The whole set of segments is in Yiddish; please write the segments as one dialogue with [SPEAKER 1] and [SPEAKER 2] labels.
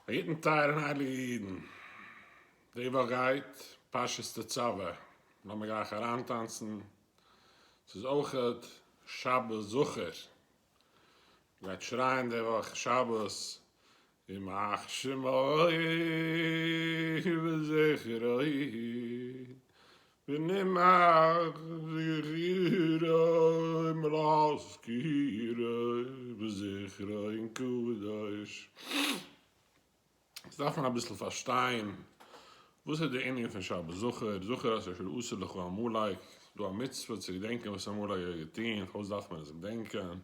[SPEAKER 1] א גוטן טייער און הייליגע אידן. די וואך גייט פרשת תצוה, לאמיר גלייך אריינטאנצן, ס'איז אויכעט שבת זכור, מ'גייט שרייען די וואך שבת ימח שמו ובזכרו ונמאס זכירא אם להזכירא וזכרא אין קדוש. יעצט דארף מען אביסל פארשטיין וואס איז די ענין פון שבת זכור, זכור את אשר עשה לך עמלק, איז דא א מצוה צו געדענקען וואס עמלק האט געטון, פארוואס דארף מען עס געדענקען,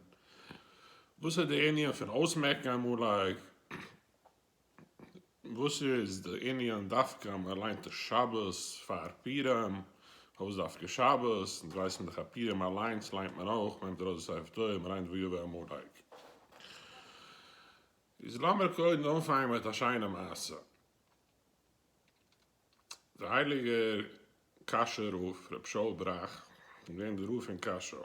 [SPEAKER 1] וואס איז די ענין פון אויסמעקן עמלק, וואס איז די ענין דווקא אז מען ליינט די שבת פאר פורים? פארוואס דווקא שבת? אונז ווייסן דאך אז פורים אליינס ליינט מען אויך, מען נעמט ארויס די ספר תורה און מען ליינט ויבא עמלק. איז לאמיר קודם אנפאנגען מיט א שיינע מעשה. דער הייליגער קאשוי רב, רבי שאול בראך, איז געווען דער רב פון קאשוי.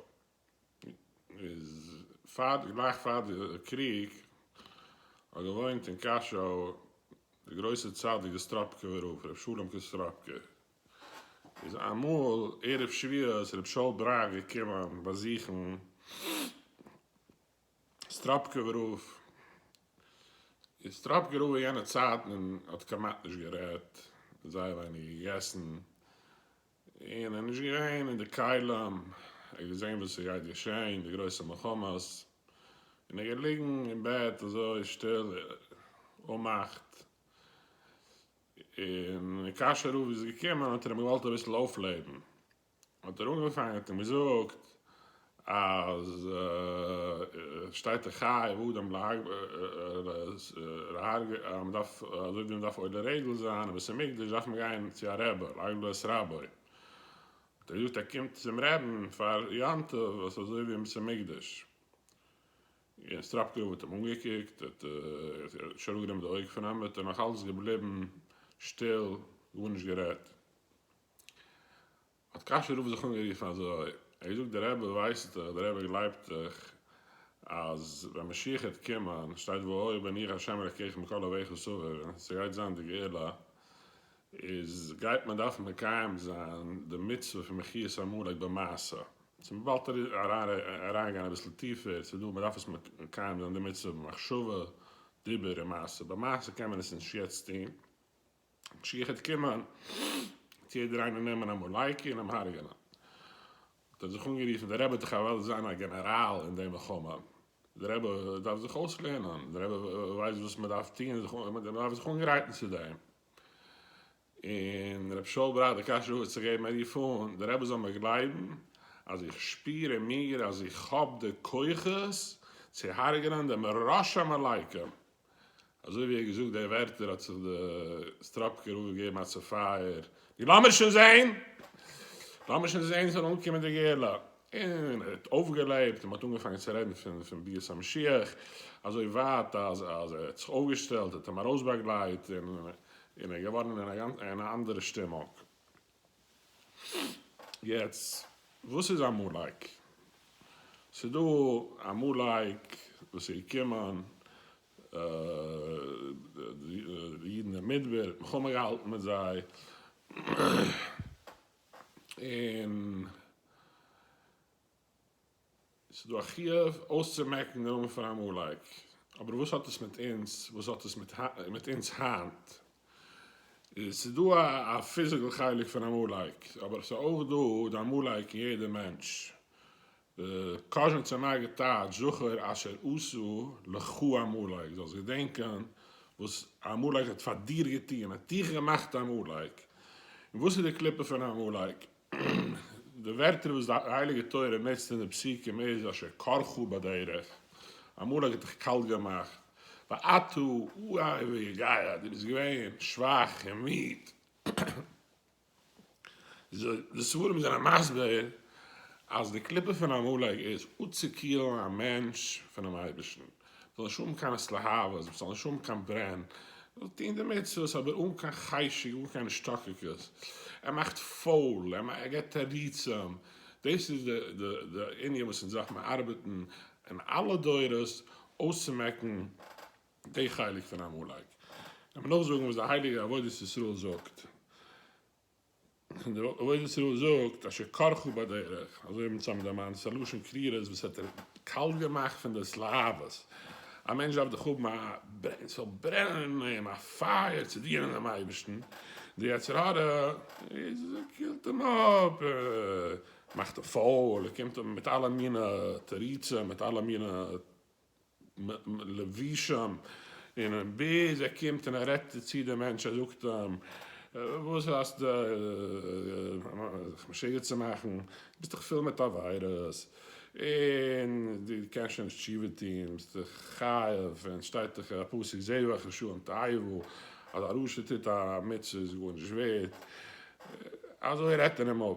[SPEAKER 1] איז פאר די גלייך פאר די קריג האט געוואוינט אין קאשוי די גרויסע צדיק די סטראפקעווער רב רבי שלום קאסטראפקע איז אמאל ערב שביעות רב שאול בראך געקומען באזוכן סטראפקוב'ער רב איז סטראפקוב'ער רב אין יענע צייטן און האט כמעט נישט גערעדט, זייער ווייניג געגעסן, און ער איז נישט געווען אין די כלים, ער האט געזען וואס ס'גייט געשען, די גרויסע מלחמות, און ער איז געליגן אין בעט אזוי שטיל אנמאכט, און ווען קאשוי רב איז געקומען האט ער אים געוואלט אביסל אויפלעבן. האט ער אנגעפאנגען האט אים געזאגט אז שטייט ער חייב אדם להרגל אז מען דארף אזוי ווי מען דארף עולה רגל זיין אין בית המקדש דארף מען גיין צו א רבי להרגל את רבו האט ער געזאגט ער קומט צום רעבן פאר יום טוב וואס אזוי ווי אין בית המקדש און סטראפקוב האט אים אנגעקוקט האט נישט אראפ גענומען די אויג פון אים האט ער נאך אלץ געבליבן שטיל גארנישט גערעדט. האט קאשוי רב זיך אנגערופן אזוי, ער האט געזאגט, דער רבי ווייסט דאך, דער רבי גלייבט דאך, אז ווען משיח העט קומען, שטייט והיה ואני ה' אלקיכם מכל אוהביך סביב, ס'גייט זיין די גאולה, איז גייט מען דארפן מקיים זיין די מצוה פון מחיית עמלק במעשה, צו מ'וואלט אריינגיין אביסל טיפער, ס'איז דא, מ'דארף עס מקיים זיין די מצוה במחשבה, דיבור און מעשה, במעשה קען מען עס נישט יעצט טון, משיח עט קומען צו יעדער איינער נעמען א מאלייקע און אים הרג'ענען. האט ער זיך אנגערופן דער רבי טאך אוועלט זיין א גענעראל אין די מלחמה. דער רבי דארף זיך אויסלערנען, דער רבי ווייסט וואס מען דארף טוהן זיך און מען דארף זיך אנגרייטן צו דעם. און רבי שאול בראכט די קשיא אויס צו געבן ער רוף אן די רבי זאל מיר גלייבן אז איך שפיר אין מיר אז איך האב די כוחות צו הרג'ענען דעם רשע מאלייקע. אזוי ווי ער האט געזאגט די ווערטער האט זיך די סטראפקער רב געגעבן א צופייער, נו לאמיר שוין זעהן! לאמיר שוין זעהן ס'זאל אנקומען די גאולה! און ער האט אויפגעלעבט און מ'האט אנגעפאנגען צו רעדן פון ביאת המשיח, אזוי ווייט אז ער האט זיך אויפגעשטעלט, ער האט אים ארויסבאגלייט און ער איז געווארן אין א אנדערע שטימונג. יעצט וואס איז עמלק? ס'איז דא עמלק וואס איז געקומען די אידן אין מדבר האט מלחמה געהאלטן מיט זיי און. ס'איז דא א חיוב אויסצומעקן די נאמען פון עמלק, אבער וואס האט עס מיט אונז, וואס האט עס מיט אונז היינט? ס'איז דא א פיזיקל חלק פון עמלק, אבער ס'איז אויך דא די עמלק אין יעדע מענטש. קאזשניצער מגיד טייטש, זכור אשר עשו לך עמלק, זאלסט געדענקען וואס עמלק האט פאר דיר געטון, ער האט דיך געמאכט עמלק. און וואס איז די קליפה פון עמלק? די ווערטער וואס די הייליגע תורה נוצט אין די פסוקים איז אשר קרך בדרך, אמאל האט גאט דיך קאלט געמאכט, ואתה אוהב ויגעיה, דו ביסט געווען שוואך און מיד. די ספרים זענען מסביר אז די קליפה פון עמלק איז אפצוקילן א מענטש פונעם אייבערשטן, זאל נישט האבן קיין התלהבות, מ'זאל נישט האבן קיין ברען, מ'זאל טון די מצוות אבער אן קיין חשק, אן קיין השתוקקות, ער מאכט פויל, ער געבט תירוצים, דאס איז די ענין וואס אונז דארף מען ארבעטן אין אלע דורות אויסצומעקן די חלק פון עמלק, לאמיר נאכזאגן וואס די הייליגע עבודת ישראל זאגט. און דער עובד ישראל זאגט אשר כרכו בדרך, אזוי האבן צוזאמען דערמאנט, ס'איז א לשון קרירות וואס האט ער קאלט געמאכט פון דאס להבות, א מענטש דארף דאך האבן א, ס'זאל ברענען אין אים א פייער צו דינען דעם אייבערשטן, די יצר הרע איז קילט אים אפ, מאכט אים פויל, ער קומט מיט אלע מיני תירוצים, מיט אלע מיני. לבושם, און ביז ער קומט און ער רעדט צו דעם מענטש, ער זאגט אים, וואס האסטו זיך משוגע צו מאכן, דו ביסט דאך פול מיט עבירות, און דו קענסט שוין נישט תשובה טון, ביסט דאך חייב, און שטייט דאך אין א פסוק זבח רשעים תאהבו, אז א רשע טוט א מצוה איז גארנישט ווערט, אזוי רעדט ער אים אפ.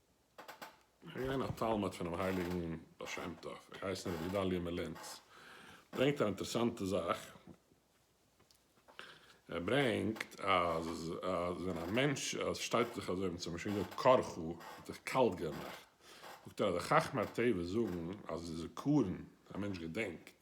[SPEAKER 1] איך בין געווען א תלמיד פונעם הייליגן בעל שם טוב, ער הייסט רבי גדלי' מלינץ, ער ברענגט א אינטערעסאנטע זאך, ער ברענגט אז ווען א מענטש שטייט זיך אזוי און צומשל געזאגט קר ח האט זיך קאלט געמאכט, זאגט ער אז די חכמי הטבע זאגן אז די זכרון ווען א מענטש געדענקט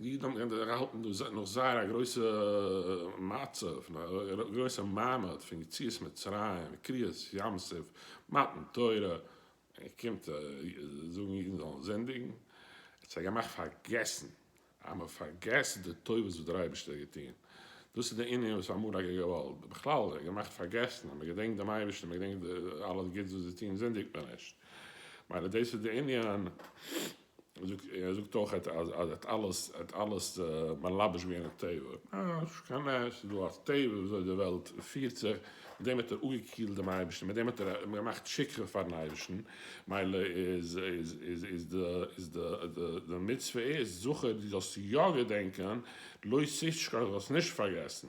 [SPEAKER 1] די אידן האבן געקענט ערהאלטן דא נאך זייער א גרויסע מצב, א גרויסע מעמד פון יציאת מצרים, קריעת ים סוף, מתן תורה, איר קומט זאגן אידן זאלן זינדיגן? האט זיי געמאכט פארגעסן אז מען פארגעסט די טובות וואס דער אייבערשטער האט געטון, דאס איז די ענין וואס האמאן האט געוואלט בכלל געמאכט פארגעסן, אז מען געדענקט דעם אייבערשטן, מען געדענקט אלעס גוטס וואס זיי טון זינדיגט מען נישט, מילא דאס איז די ענין. ער זאגט אויך אז ער האט אלעס ער האט אלעס מלבש געווען אויף טבע, נישט קיין נס, ס'איז דא א טבע ווי אזוי די וועלט פירט זיך, מיט דעם האט ער אפגעקילט דעם אייבערשטן, מיט דעם האט ער געמאכט שכחה פארן אייבערשטן, מילא איז איז איז די מצוה איז זכור דו זאלסט יא געדענקען, לא תשכח דו זאלסט נישט פארגעסן.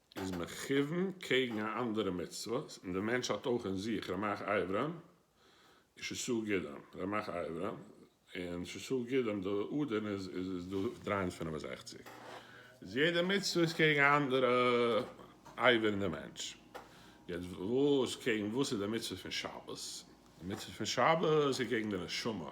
[SPEAKER 1] איז מכוון קעגן א אנדערע מצוה, און דער מענטש האט אויך אין זיך רמח איברים, און שסה גידים, רמח איברים, און שסה גידים, די אדערן איז איז דא דרײַ הונדערט פֿינף און זעכציק, איז יעדע מצוה איז קעגן א אנדערע אייבער אין די מענטש, יעצט וואס קעגן וואס איז די מצוה פון שבת, די מצוה פון שבת איז קעגן די נשמה.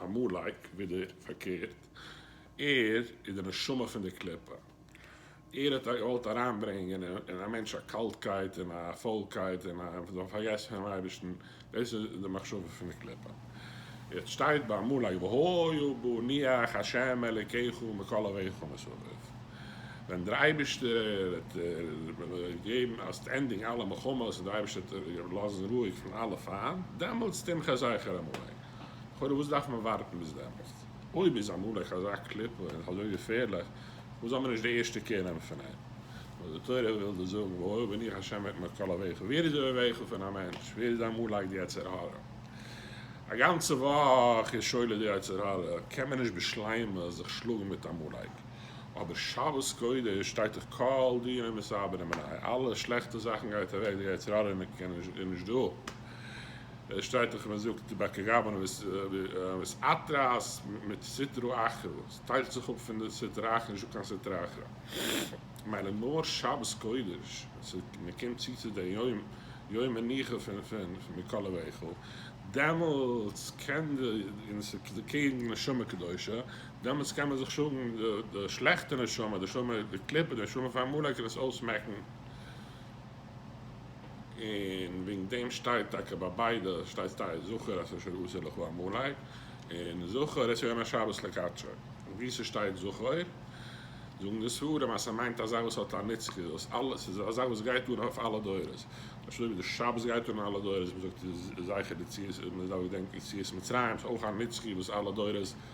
[SPEAKER 1] עמלק, ווידער, פארקערט, ער איז די נשמה פון די קליפה. ער האט געוואלט אריינברענגען אין א מענטש א קאלטקייט און א פוילקייט און זיי זאלן פארגעסן פונעם אייבערשטן. דאס איז די מחשבה פון די קליפה. יעצט שטייט ביי עמלק והיו בניך השם אלקיך מכל אביך מסביב. ווען דער אייבערשטער האט געגעבן אז ס'וועט ענדיגן אלע מלחמות און דער אייבערשטער וועט לאזן רואיג פון אלע פיינט, דעמאלטס תמחה זכר עמלק. לכאורה וואס דארף מען ווארטן ביז דעמאלסט? אויב איז עמלק אזא קליפה און אזוי געפערליך, פארוואס זאל מען נישט די ערשטע קער נעמען פון אים? ווייל די תורה וויל דאס זאגן, והואיל ואני השם אתמר כל אוהביך, ווער איז די אוהביך פון א מענטש? ווער איז עמלק די יצר הרע? א גאנצע וואך איז שאול די יצר הרע, קען מען נישט בשלימות זיך שלאגן מיט עמלק, אבער שבת קודש שטייט דאך כל דיני מסעבדים עניי, אלע שלעכטע זאכן גייט אוועק, די יצר הרע איז נישט דא, עס שטייט דאך מען זאגט בקע גאבנא וס אתרעס מיט סטרא אחרא, עס טיילט זיך אפ פון די סטרא אחרא נישט דא קיין סטרא אחרא מילא נאר שבת קודש ווען מען קומט צו צו די יום יום מנוחה פון פון מקוה ואיכל דעמאלטס קען די און עס איז קעגן נשמה קדושה דעמאלטס קען מען זיך שלאגן די שלעכטע נשמה די נשמה די קליפה די נשמה פון עמלק און עס אויסמעקן. און וועגן דעם שטייט טאקע ביי ביידע שטייט סטייער זכור אשר אשר עשה לך עמלק און זכור את יום השבת לקדשו און ווי ס'שטייט זכור זאגן די ספרים אז ס'מיינט אזא וואס האט א נצחיות וואס אלע ס'איז אזא וואס גייט אן אויף אלע דורות ממש אזוי ווי די שבת גייט אן אלע דורות מ'זאגט זכר יציאת מ'איז דארף געדענקען יציאת מצרים ס'איז אויך א נצחי וואס אלע דורות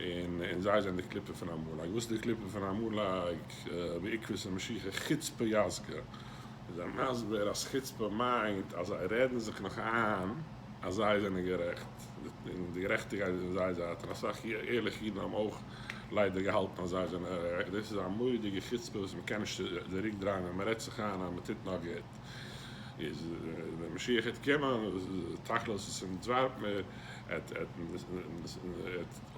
[SPEAKER 1] און און זיי זענען די קליפה פון עמלק, וואס איז די קליפה פון עמלק בעקבות המשיחי חוצפה יסגא, איז ער מסביר אז חוצפה מיינט אז זיי רעדן זיך נאך איין אז זיי זענען גערעכט, און די גערעכטיגקייט איז אין זייער זייט, און אסאך ערליכע אידן האבן אויך ליידער געהאלטן אז זיי זענען גערעכט, דאס איז א מורא'דיגע חוצפה וואס מען קען נישט צוריק דרייען ווען מען רעדט זיך איין אז מען טוט נאר גוט. איז ווען משיח העט קומען תכלית איז פון דזווארט מער העט העט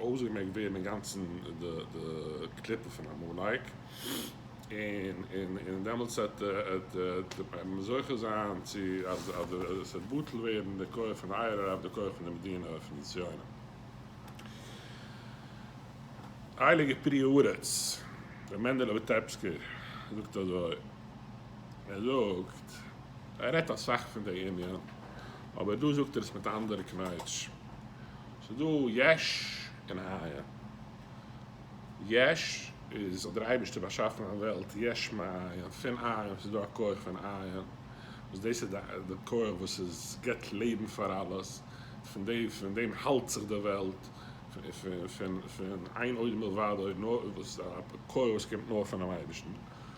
[SPEAKER 1] אויסגעמעקט ווערן אינגאנצן די די קליפה פון עמלק און און און דעמאלטס העט העט העט מען זוכה זיין צו אז אז עס העט בטל ווערן די כח פון אייער רב די כח פון די מדינה פון די ציונים. הייליגער פרי הארץ רבי מענדעלע וויטעפסקער זאגט אזוי. ער זאגט ער רעדט אסאך פון די ענין, אבער דא זאגט ער עס מיט א אנדערע קנייטש. ס'איז דא יש און היה. יש איז האט דער אייבערשטער באשאפן א וועלט יש מאין, פון עין ס'איז דא א כח פון עין, וואס דאס איז די כח וואס איז גיבט לעבן פאר אלעס, פון די פון דעם האלט זיך די וועלט, פון פון פון איין עוד מלבדו, נאר וואס א כח וואס קומט נאר פונעם אייבערשטן.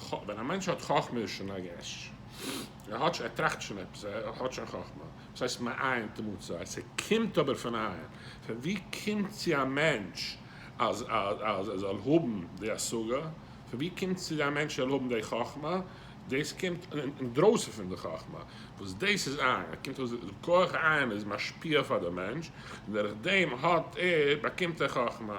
[SPEAKER 1] ח. ווען א מענטש האט חכמה איז שוין א יש. ער האט שוין, ער טראכט שוין עפעס, ער האט שוין חכמה. וואס הייסט מאין תמצא? עס קומט אבער פון איין. פון ווי קומט צו א מענטש אז אז ער זאל האבן די השגה? פון ווי קומט צו א מענטש ער זאל האבן די חכמה? דאס קומט אינדרויסן פון די חכמה, וואס דאס איז עין. עס קומט אויס די כח עין איז משפיע פאר די מענטש, און דורך דעם האט ער, באקומט ער חכמה.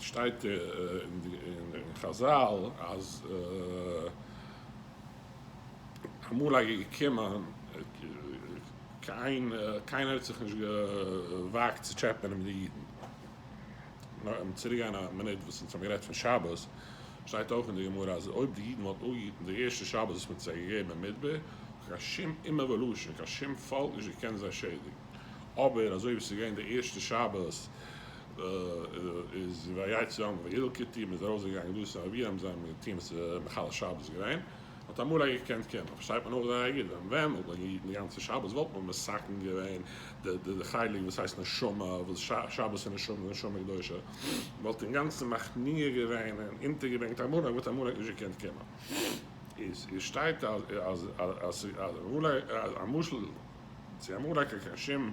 [SPEAKER 1] שטייט אין חזל אז אמאל איז געקומען קיינער האט זיך נישט געוואגט צו טשעפענען מיט די אידן. נאר צוריק גיין א מינוט וואס אונז האבן גערעדט פון שבת, שטייט אויך אין די גמרא אז אויב די אידן וואלטן אפגעהיטן די ערשטע שבת וואס מען האט זיי געגעבן אין מדבר וואלט קיין שום אומה ולשון און קיין שום פאלק נישט געקענט זיי שעדיגן. אבער אזוי ווי עס איז געווען די ערשטע שבת איז ויצא העם וילקוטי, מען איז ארויס געגאנגען דאס איז אבי האבן זיי האבן געטוהן וואס איז מחלל שבת גרעין, האט אמאל א געקענט קען מען, פארשטייט מען אויך זייער גוט, ווען ווען וואלט מען געהיטן די גאנצע שבת וואלט מען מסכן געווען די די די חלק וואס הייסט נשמה, וואס שבת איז נשמה איז נשמה קדושה, מען וואלט אינגאנצן מכניע געווען און אונטערגעברענגט עמלק וואלט עמלק נישט געקענט קומען, איז איז שטייט אז אז אז אז עמלק א משל צו עמלק קיין שום.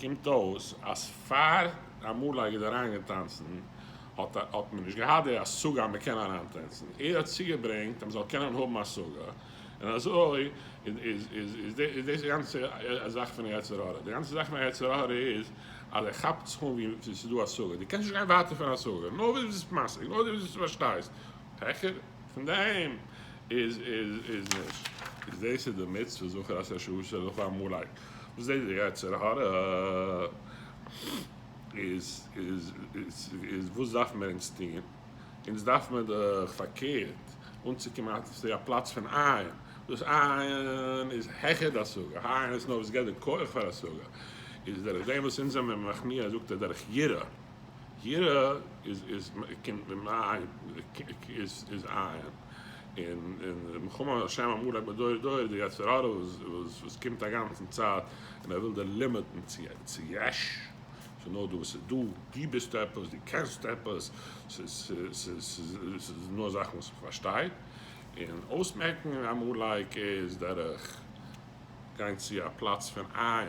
[SPEAKER 1] קומט אויס אז פאר אמאל ער איז אריין געטאנצן האט מען נישט געהאט די השגה אז מען קען אריין טענצן, ער האט צוגעברענגט אז מען זאל קענען האבן השגה, און אזוי איז דאס די גאנצע זאך פון יצר הרע, די גאנצע זאך פון יצר הרע איז אז ער כאפט זיך אן ווי ס'איז דא השגה, דו קענסט נישט גיין ווייטער פון השגה, נאר ווי דו ביסט משיג, נאר ווי דו פארשטייסט, העכער. פון די אים איז איז נישט. איז דאס איז די מצוה זכור את ה' אלהיך אמאלי וואס דאס די יצר הרע איז איז איז וואס דארפן מיר אונז טוהן אונז דארף מיר דאך פארקערט אנצוקומען אט צו א פלאץ פון עין וואס עין איז העכער די השגה העין איז נאר וואס געבט די כח פאר השגה איז דורך דעם וואס אונז זעמיר מכניע זאגט ער דורך יראה. יראה איז איז קומט אים איין איז איז עין און און מלחמה השם אמור להם מדור דור די יצר הרע וואס וואס קומט א גאנצן צייט און ער וויל דיר לימיטן צו צו יש ס'איז נאר דא וואס איז דא דו ביסט עפעס דו קענסט עפעס ס'איז ס'איז ס'איז נאר זאכן וואס מען פארשטייט און אויסמעקן עמלק איז דורך גיין צו א פלאץ פון עין.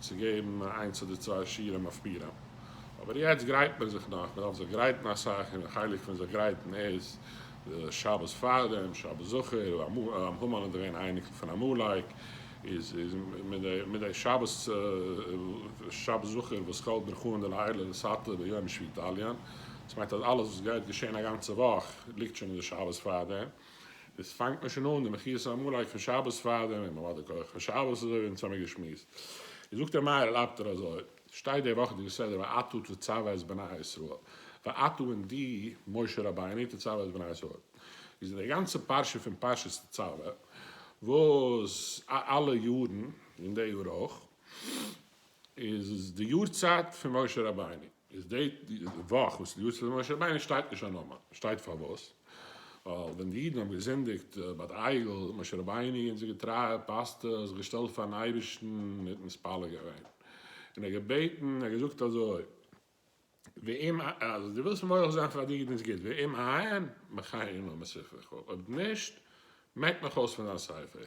[SPEAKER 1] צו געבן איינס אדער צוויי שיעורים אויף פירם, אבער יעצט גרייט מען זיך נאך, מען דארף זיך גרייטן אסאך, און א חלק פון זיך גרייטן איז די שבת פארדעם, שבת זכור, המן איז געווען א אייניקל פון עמלק, איז מיט די שבת זכור וואס כל ברכו און די לעילא ולסאטמאר ביום שביעי תליין, דאס מיינט אז אלעס וואס גייט געשען א גאנצע וואך ליגט שוין אין די שבת פארדעם. עס פאנגט מען שוין אן די מחיאות העמלק פון שבת פארדעם אין מעמד הכח פון שבת אזוי ווי אונז האמיר געשמועסט איז זאגט דער מהר ל אפטער אזוי שטייט די וואכעדיגע סדר ואתה תצוה את בני ישראל ואתה און דו משה רבינו תצוה את בני ישראל איז אין די גאנצע פרשה פון פרשת תצוה וואס אלע יארן און די יאר אויך. איז די יארצייט פון משה רבינו, איז די וואך וואס איז די יארצייט פון משה רבינו שטייט נישט א נאמען, שטייט פארוואס? ווייל ווען די אידן האבן געזינדיגט ביי די עגל, משה רבינו אונזער געטרייער פאסטער האט זיך געשטעלט פארן אייבערשטן און מתפלל געווען, און ער האט געבעטן, ער האט געזאגט אזוי, ואם אז דו ווילסט מוחל זיין פאר די אידן איז גוט, ואם אין, מחיי עמו מספרך, אויב נישט, מעק מיך אויס פון דיין ספר.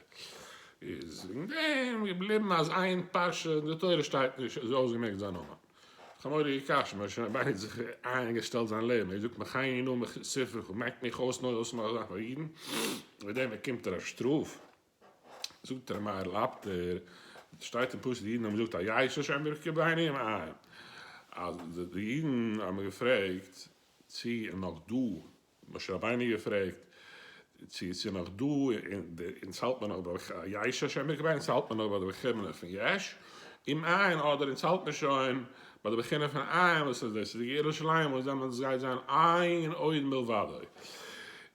[SPEAKER 1] איז וועגן דעם געבליבן אז איין פרשה אין די תורה שטייט נישט אז אויסגעמעקט זיין נאמען. חמורי קש, משה רבינו האט זיך איינגעשטעלט זיין לעבן, ער זאגט מחיי עמו מספרך, מעק מיך אויס נאר אויסמאכן זאכן פאר אידן, וועגן דעם באקומט ער א שטראף. זאגט אים מהר לב טער, שטייט אין פסוק די אידן האבן געזאגט א ייש השם ברכי בנים א, אז די אידן האבן געפרעגט צי איז נאך דא, משה רבינו געפרעגט צי ס'איז נאך דא און צו האלט מען נאך ביי א ייש השם ברכי בנים צו האלט מען נאך ביי די ברכי בנים פון יש, אם אין אדער אונז האלט מיר שוין ביי די בחינה פון עין וואס איז דאס איז ירושלים וואס דעמאלטס גייט זיין עין עוד מלבדו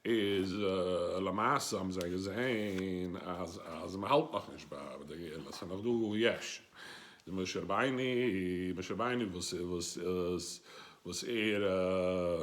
[SPEAKER 1] איז למעשה האבן זיי געזעהן אז אז מען האלט נאך נישט ביי די גאולה ס'איז נאך דא יש די משה רבינו משה רבינו וואס וואס וואס ער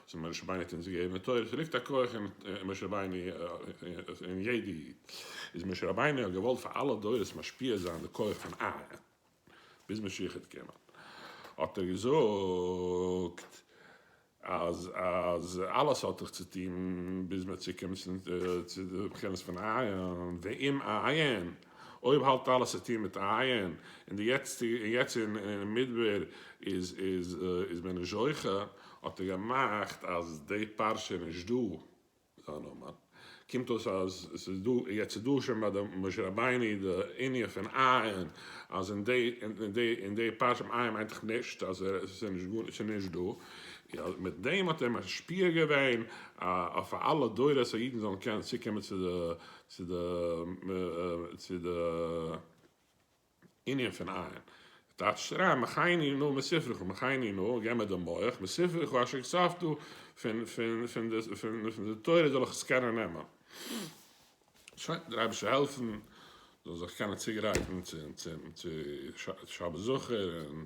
[SPEAKER 1] צו משה רבינו האט אונז געגעבן די תורה, ס'ליגט א כח אין משה רבינו אין יעדע איד, איז משה רבינו האט געוואלט פאר אלע דורות משפיע זיין די כח פון אהרן, ביז משיח איז געקומען האט ער געזאגט אז אז אלעס האט זיך צוטון ביז מ'האט צוקומען צו די בחינות פון אהרן, ואם אעיין. אויב האלט אלעס צו טון מיט עיין, און די יעצטיגע און יעצט אין מדבר איז איז מען נישט זוכה, האט ער געמאכט אז די פרשה איז נישט דא זיין נאמען, קומט אויס אז עס איז דא, יעצט איז דא שוין ביי די משה רבינו די ענין פון עיין, אז אין די אין די אין די פרשה פון עיין מיינט דאך נישט אז עס איז נישט גארנישט עס איז נישט דא, און מיט דעם האט ער משפיע געווען אויף אלע דורות אז אידן זאלן קענען צוקומען צו די צו די צו די ענין פון עיין. טייטש שרייב מחייני נא מספרך מחייני נא גיב מיר די מח מספרך אשר כספת פון פון פון די פון די תורה זאל איך עס קענען נעמען. שוין דער אייבערשטער העלפן זאל זיך קענען צוגרייטן צו צו שבת זכור און